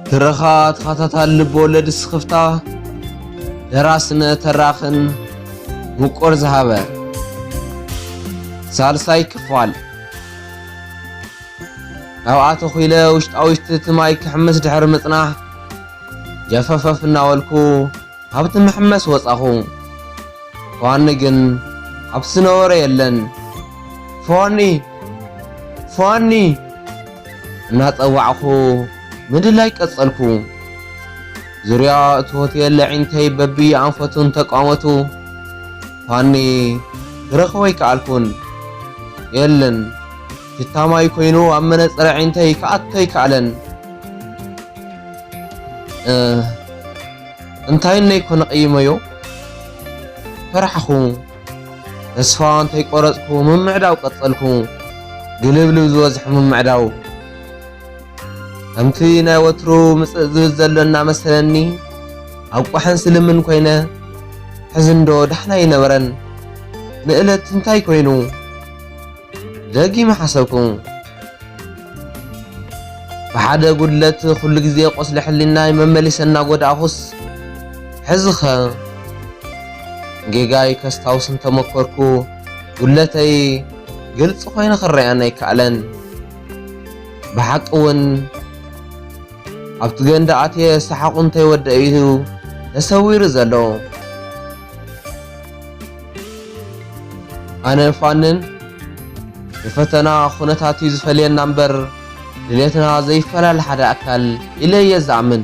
ትረኻ ተኸታታሊ ልብወለድ ስኽፍታ ደራስነ ተራኽን ምቁር ዝሃበ ሳልሳይ ክፋል ካብኣ ተኹኢለ ውሽጣ-ውሽጢ እቲ ማይ ክሕምስ ድሕሪ ምጽናሕ፣ ጀፈፈፍ እናበልኩ ካብቲ መሕመሲ ወጻኹ። ፋኒ ግን ኣብቲ ዝነበሮ የለን። ፋኒ! ፋኒ! እናጸዋዕኩ ምድላይ ቀጸልኩ። ዙርያ እቲ ሆቴል ኣዒንተይ በብየኣንፈቱን ተቋመቱ። ፋኒ ክረኽቦ ኣይከኣልኩን። የለን። ሽታ ማይ ኮይኑ ኣብ መነጸር ኣዒንተይ ክኣቱ ኣይከኣለን። እንታይ እነይ ኮነ ቀይመዮ ፈራሕኩ። ተስፋ እንታይ ቆረጽኩ ምምዕዳው ቀጸልኩ። ግልብልብ ዝበዝሖ ምምዕዳው ከምቲ ናይ ወትሩ ምጽእ ዝብል ዘሎ እናመሰለኒ ኣብ ቋሕን ስልምን ኮይነ ሕዝንዶ ዳሕና ይነበረን ንእለት እንታይ ኮይኑ ደጊመ ሓሰብኩ። ብሓደ ጉድለት ኩሉ ግዜ ቁስሊ ሕሊናይ መመሊሰ እናጎዳእኹስ ሕዚኸ ጌጋይ ከስታውስ እንተመኮርኩ ጉድለተይ ግልፂ ኮይኑ ክረኣየኒ ኣይከኣለን። ብሓቂ እውን ኣብቲ ገንዳ ኣትየ ሰሓቑ እንተይወደአ እዩ ተሰዊሩ ዘሎ። ኣነ ፋንን ንፈተና ኩነታት እዩ ዝፈልየና እምበር ድሌትና ዘይፈላለ ሓደ ኣካል ኢለ እየ ዝኣምን።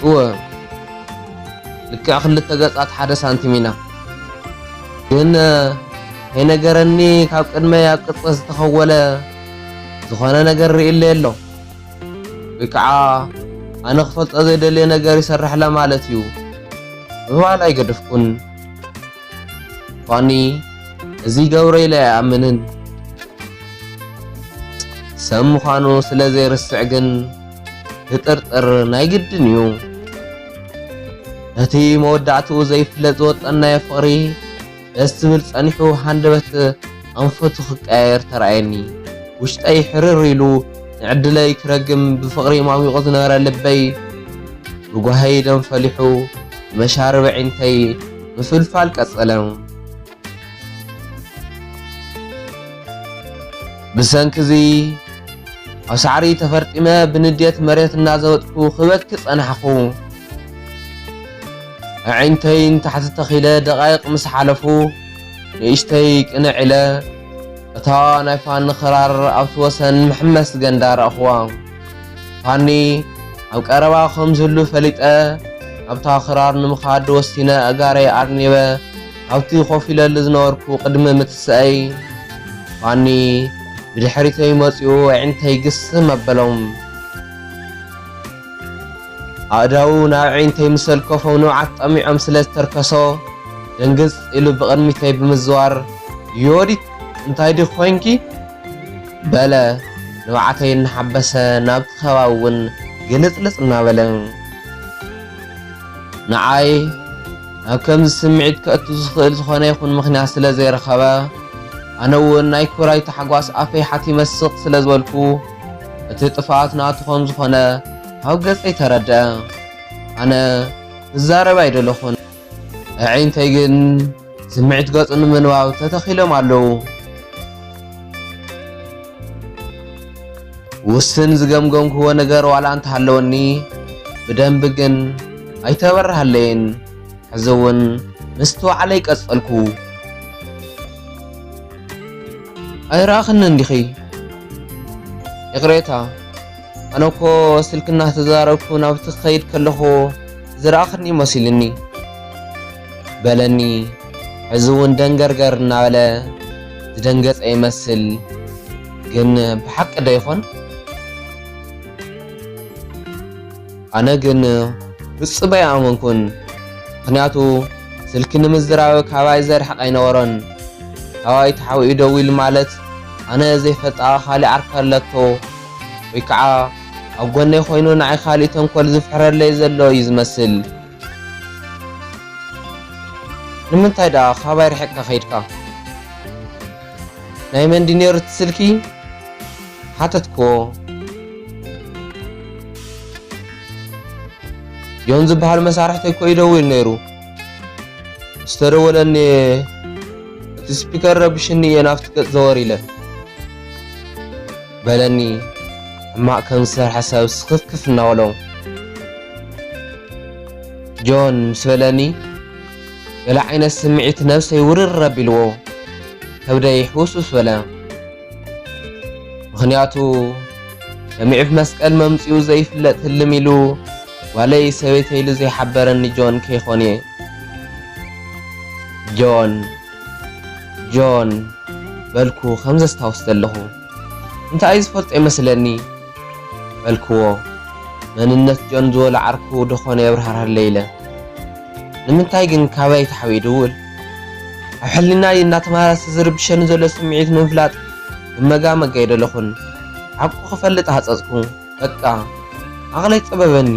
እወ ልክዕ ክልተ ገጻት ሓደ ሳንቲም ኢና። ግን ከይነገረኒ ካብ ቅድመይ ኣብ ቅጽ ዝተኸወለ ዝኾነ ነገር ርእለ ኣሎ ወይ ከዓ ኣነ ክፈልጦ ዘይደልየ ነገር ይሰርሕለ ማለት እዩ ምባል ኣይገደፍኩን። ፋኒ እዚ ይገብሮ ኢለ ኣይኣምንን ሰብ ምዃኑ ስለ ዘይርስዕ ግን ክጥርጥር ናይ ግድን እዩ ነቲ መወዳእትኡ ዘይፍለጥ ዝወጠናዮ ፍቕሪ ደስ ዝብል ጸኒሑ ሃንደበት ኣንፈቱ ክቀያየር ተራእየኒ። ውሽጠይ ሕርር ኢሉ ንዕድለይ ክረግም ብፍቕሪ ማሚቑ ዝነበረ ልበይ ብጓሂ ደም ፈሊሑ ብመሻርብ ኣዒንተይ ምፍልፋል ቀጸለ። ብሰንኪ እዚ ኣብ ሳዕሪ ተፈርጢመ ብንዴት መሬት እናዘወጥኩ ክበኪ ጸናሕኩ። ኣዒንተይ ንታሕቲ ተኺለ ደቓይቕ ምስ ሓለፉ ንእሽተይ ቅንዕ ኢለ እታ ናይ ፋኒ ክራር ኣብቲ ወሰን መሕመስ ገንዳ ረእኽዋ። ፋኒ ኣብ ቀረባ ከም ዝህሉ ፈሊጠ ናብታ ክራር ንምኻድ ወሲነ ኣእጋረይ ኣርኒበ ናብቲ ኮፍ ኢለሉ ዝነበርኩ ቅድሚ ምትስኣይ ፋኒ ብድሕሪተይ መጺኡ ኣዒንተይ ግስም ኣበሎም። ኣእዳዉ ናብ ኣዒንተይ ምስ ኣልከፎ ንብዓት ጠሚዖም ስለ ዝተርከሶ ደንግጽ ኢሉ ብቕድሚተይ ብምዝዋር ዮዲት እንታይ ዲኺ ኮይንኪ? በለ ንብዓተይ እናሓበሰ ናብቲ ከባቢ ውን ግልጽልጽ እናበለ። ንዓይ ናብ ከምዚ ስምዒት ከእቱ ዝኽእል ዝኾነ ይኹን ምኽንያት ስለ ዘይረኸበ ኣነ ውን ናይ ክብራይ ታሕጓስ ኣፈይ ሓቲመ ስቕ ስለ ዝበልኩ፣ እቲ ጥፍኣት ናቱ ከም ዝኾነ ካብ ገጸይ ተረድኣ። ኣነ ክዛረብ ኣይደለኹን፣ ኣዒንተይ ግን ስምዒት ገጹ ንምንባብ ተተኺሎም ኣለዉ። ውስን ዝገምገምክዎ ነገር ዋላ እንተሃለወኒ ብደንቢ ግን ኣይተበርሃለይን። ሕዚ እውን ምስትውዓለይ ቀጸልኩ። ኣይረኣኽንን ዲኺ? ይቕሬታ ኣነ እኮ ስልኪ እናተዛረብኩ ናብቲ ክኸይድ ከለኹ ዝረኣኽኒ መሲሉኒ በለኒ። ሕዚ እውን ደንገርገር እናበለ ዝደንገፀ ይመስል። ግን ብሓቂ ዶ ይኾን? ኣነ ግን ፍጹም ኣይኣመንኩን፣ ምኽንያቱ ስልኪ ንምዝራብ ካባይ ዘርሕቕ ኣይነበሮን። ካባይ ተሓቢኡ ደዊሉ ማለት ኣነ ዘይፈልጣ ካልእ ዓርኪ ኣለቶ ወይ ከዓ ኣብ ጎነይ ኮይኑ ንዓይ ካልእ ተንኮል ዝፍሕረለይ ዘሎ እዩ ዝመስል። ንምንታይ ደኣ ካባይ ርሒቕካ ከይድካ? ናይ መን ድዩ ነይሩ እቲ ስልኪ? ሓተትክዎ። ዮን ዝበሃል መሳርሕተይ እኮ እዩ ደዊሉ ነይሩ። ምስ ተደወለኒ እቲ ስፒከር ረቢሽኒ እየ ናብቲ ገፅ ዘወር ኢለ። በለኒ ሕማቅ ከም ዝሰርሐ ሰብ ስኽፍክፍ እናበሎ። ጆን ምስ በለኒ ገለ ዓይነት ስምዒት ነብሰይ ውርር ኣቢልዎ ከብደይ ሕውስውስ በለ። ምኽንያቱ ሰሚዕፍ መስቀል መምጽኡ ዘይፍለጥ ህልም ኢሉ ጓለይ ሰበይተይ ኢሉ ዘይሓበረኒ ጆን ከይኮን እየ። ጆን ጆን በልኩ ከም ዘስታውስ ዘለኹ። እንታኣይ ዝፈልጦ ይመስለኒ በልክዎ መንነት ጆን ዝወለ ዓርኩ ዶኾነ የብርሃርሀለይ ኢለ ንምንታይ ግን ካባይ ታሕቢኡ ይድውል ኣብ ሕሊናይ እናተመላለሰ ዝርብሸኒ ዘሎ ስምዒት ንምፍላጥ ክመጋመግ ኣይደለኹን ሓቁ ክፈልጥ ሃጸጽኩ በቃ ዓቕለይ ጸበበኒ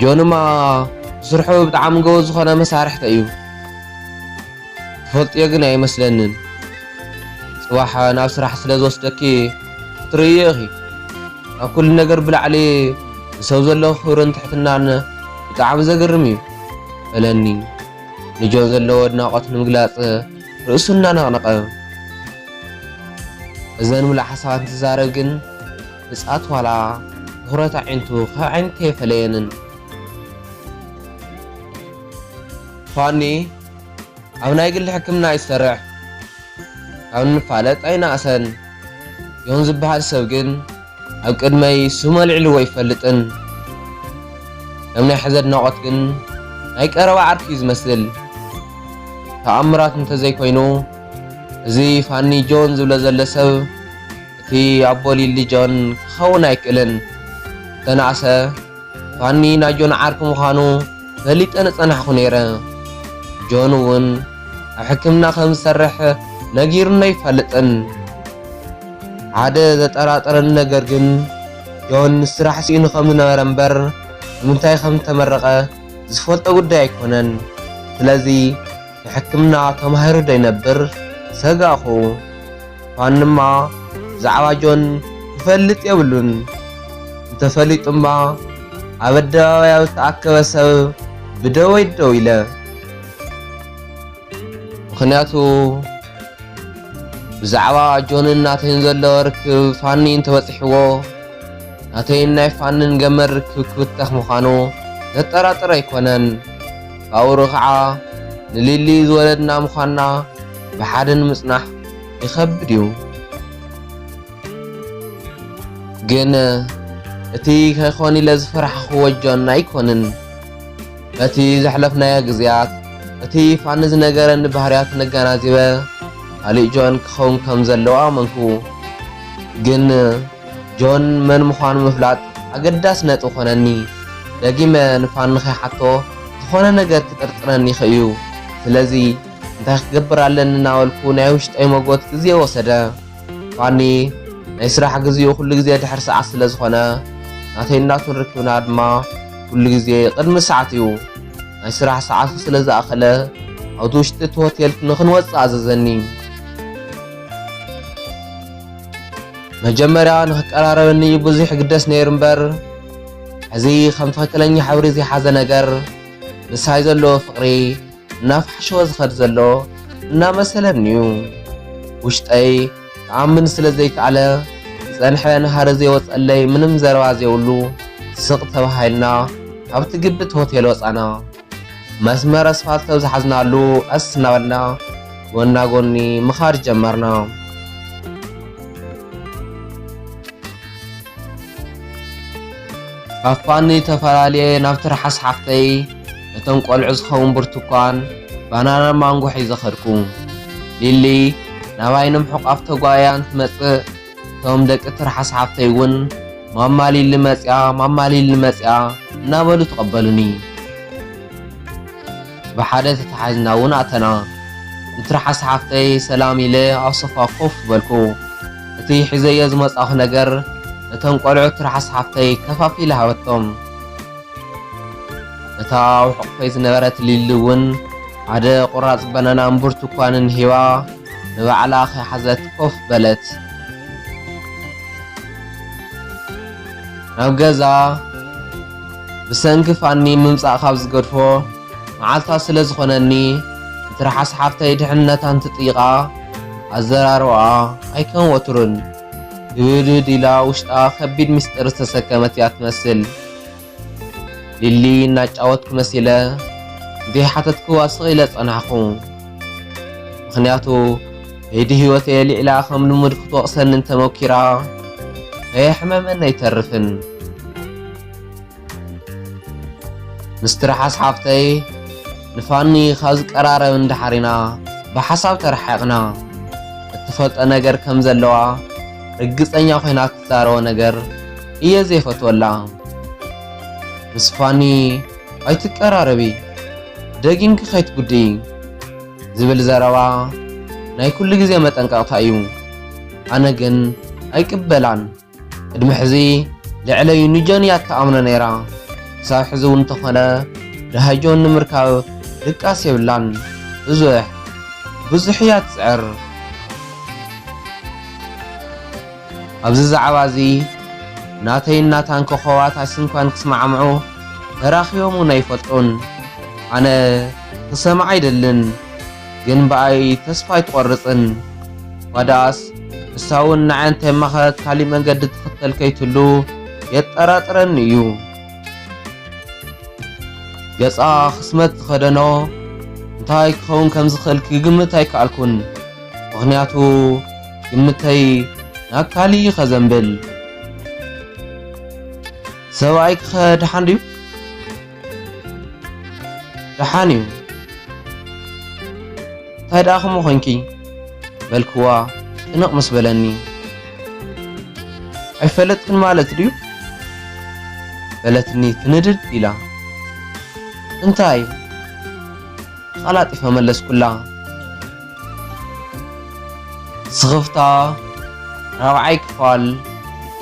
ጆንማ ብስርሑ ብጣዕሚ ጎበዝ ዝኾነ መሳርሕተ እዩ። ትፈልጥዮ ግን ኣይመስለንን ጽባሕ ናብ ስራሕ ስለ ዝወስደኪ ክትርእይዮ ኢኺ ካብ ኩሉ ነገር ብላዕሊ ንሰብ ዘለዎ ክብርን ትሕትናን ብጣዕሚ ዘገርም እዩ በለኒ ንጆን ዘለዎ ኣድናቖት ንምግላጽ ርእሱ እናነቕነቐ እዘን ምሉእ ሓሳባት እንትዛረብ ግን ብጻት ዋላ ትኹረት ኣዒንቱ ካብ ዓይነተይ የፈለየንን ፋኒ ኣብ ናይ ግሊ ሕክምና እዩ ዝሰርሕ ካብ ንፋለጥ ኣይነኣሰን ዮን ዝበሃል ሰብ ግን ኣብ ቅድመይ ስሙ ኣልዒልዎ ኣይፈልጥን ከም ናይ ሕዚ ኣድናቖት ግን ናይ ቀረባ ዓርኪ እዩ ዝመስል ተኣምራት እንተዘይኮይኑ እዚ ፋኒ ጆን ዝብሎ ዘሎ ሰብ እቲ ኣቦ ሊሊ ጆን ክኸውን ኣይክእልን ዝተናእሰ ፋኒ ናይ ጆን ዓርኪ ምዃኑ ፈሊጠ ንጸናሕኩ ነይረ ጆን እውን ኣብ ሕክምና ከም ዝሰርሕ ነጊሩኒ ኣይፋልጥን ሓደ ዘጠራጠረኒ ነገር ግን ጆን ስራሕ ስኢኑ ከም ዝነበረ እምበር ንምንታይ ከም ዝተመረቐ ዝፈልጦ ጉዳይ ኣይኮነን ስለዚ ንሕክምና ተማሂሩ ዶ ይነብር ሰጋእኩ። ፋንማ ብዛዕባ ጆን ክፈልጥ የብሉን፣ እንተፈሊጡማ ኣብ ኣደባባይ ኣብ ዝተኣከበ ሰብ ብደወይ ደው ኢለ። ምኽንያቱ ብዛዕባ ጆንን ናተይን ዘሎ ርክብ ፋኒ እንተበጺሕዎ ናተይን ናይ ፋንን ገመድ ርክብ ክብተኽ ምዃኑ ዘጠራጥር ኣይኮነን። ጳውሮ ኸዓ ንሊሊ ዝወለድና ምዃንና ብሓደ ንምጽናሕ ይኸብድ እዩ። ግን እቲ ከይኮን ኢለ ዝፈራሕኽዎ ጆን ኣይኮንን። በቲ ዘሕለፍናዮ ግዝያት እቲ ፋኒ ዝነገረኒ ባህርያት ነጋናዚበ ካሊእ ጆን ክኸውን ከም ዘለዎ ኣመንኩ። ግን ጆን መን ምዃኑ ምፍላጥ ኣገዳሲ ነጥቢ ኮነኒ። ደጊመ ንፋኒ ከይሓቶ ዝኾነ ነገር ክጥርጥረኒ ይኽእ እዩ። ስለዚ እንታይ ክገብር ኣለኒ እናበልኩ ናይ ውሽጠይ መጎት ግዜ ወሰደ። ፋኒ ናይ ስራሕ ግዜኡ ኩሉ ግዜ ድሕሪ ሰዓት ስለ ዝኾነ ናተይን ናቱን ርክብና ድማ ኩሉ ግዜ ቅድሚ ሰዓት እዩ። ናይ ስራሕ ሰዓቱ ስለ ዝኣኸለ ኣብቲ ውሽጢ እቲ ሆቴል ንኽንወጽእ ኣዘዘኒ። መጀመርያ ንክቀራረበኒ ብዙሕ ይግደስ ነይሩ እምበር ሕዚ ከም ትኽክለኛ ሕብሪ ዘይሓዘ ነገር ምሳይ ዘለዎ ፍቕሪ እናፋሕሸወ ዝኸድ ዘሎ እናመሰለኒ እዩ። ውሽጠይ ክኣምን ስለ ዘይከኣለ ዝጸንሐ ንሃሪ ዘይወጸለይ ምንም ዘረባ ዘይብሉ ስቕ ተባሂልና ካብቲ ግብት ሆቴል ወጻና። መስመር ኣስፋልት ኣብ ዝሓዝናሉ ቀስ እናበልና ጎና ጎኒ ምኻድ ጀመርና። ካፋኒ ተፈላለየ ናብ ትርሓስ ሓፍተይ ነቶም ቆልዑ ዝኸውን ብርቱኳን ባናና ማንጎ ሒዘ ኸድኩ። ሊሊ ናባይ ንምሕቋፍ ተጓያን ትመጽእ እቶም ደቂ ትርሓስ ሓፍተይ እውን ማማ ሊሊ መፅያ ማማ ሊሊ መፅያ እናበሉ ተቐበሉኒ። ብሓደ ተተሓዝና እውን ኣተና። ንትርሓስ ሓፍተይ ሰላም ኢለ ኣብ ሶፋ ኮፍ በልኩ። እቲ ሒዘዮ ዝመጻኹ ነገር ነቶም ቆልዑ ትርሓስ ሓፍተይ ከፋፊለ ሃበቶም እታ ኣብ ሕቑፈይ ዝነበረት ሊሊ እውን ሓደ ቁራጽ በናናን ብርቱኳንን ሂባ ንባዕላ ከይሓዘት ኮፍ በለት። ናብ ገዛ ብሰንኪ ፋኒ ምምጻእ ካብ ዝገድፎ መዓልታት ስለ ዝኾነኒ ንትርሓስ ሓፍተይ ድሕንነታ እንትጥይቓ ኣዘራርባኣ ኣይከም ወትሩን ግብድብድ ኢላ ውሽጣ ከቢድ ምስጢር ዝተሰከመት እያ ትመስል። ሊሊ እናጫወትኩ መሲለ ንዘይሓተትክዋ ስቕ ኢለ ጸናሕኩ። ምኽንያቱ ከይዲ ህይወተይ ኣልዒላ ከም ልሙድ ክትወቕሰኒ እንተሞኪራ ከየሕመመኒ ኣይተርፍን። ምስ ትርሓስ ሓፍተይ ንፋኒ ካብ ዝቀራረብ እንድሓር ኢና ብሓሳብ ተራሓቕና። እትፈልጦ ነገር ከም ዘለዋ ርግጸኛ ኮይና ትዛረቦ ነገር እየ ዘይፈትወላ። ምስ ፋኒ ኣይትቀራረቢ ደጊምኪ ከይትጉድኢ ዝብል ዘረባ ናይ ኩሉ ግዜ መጠንቀቕታ እዩ። ኣነ ግን ኣይቅበላን። ቅድሚ ሕዚ ልዕለይ ንጆን እያ እትኣምኖ ነይራ። ክሳብ ሕዚ እውን እንተኾነ ድሃይ ጆን ንምርካብ ድቃስ የብላን። ብዙሕ ብዙሕ እያ ትፅዕር። ኣብዚ ዛዕባ እዚ ናተይን ናታን ኮኾባት ኣይስንኳን ክስማዕምዑ ተራኺቦም እውን ኣይፈልጡን። ኣነ ክሰምዓ ኣይደልን ግን ብኣይ ተስፋ ኣይትቆርጽን እኳ ደኣስ ንሳ እውን ንዓይ እንተይማኸረት ካሊእ መንገዲ ትኽተል ከይትህሉ የጠራጥረኒ እዩ። ገጻ ክስመት ዝኸደኖ እንታይ ክኸውን ከም ዝኽእል ክግምት ኣይከኣልኩን ምኽንያቱ ግምተይ ናብ ካሊእ እዩ ከዘንብል ሰብኣይ ክኸ ድሓን ድዩ ድሓን እዩ እንታይ ደኣ ከምኡ ኮንኪ በልክዋ ጭንቕ ምስ በለኒ ኣይፈለጥክን ማለት ድዩ በለትኒ ትንድድ ኢላ እንታይ ተቐላጢፈ መለስኩላ ስኽፍታ ራብዓይ ክፋል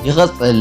ይቕጽል።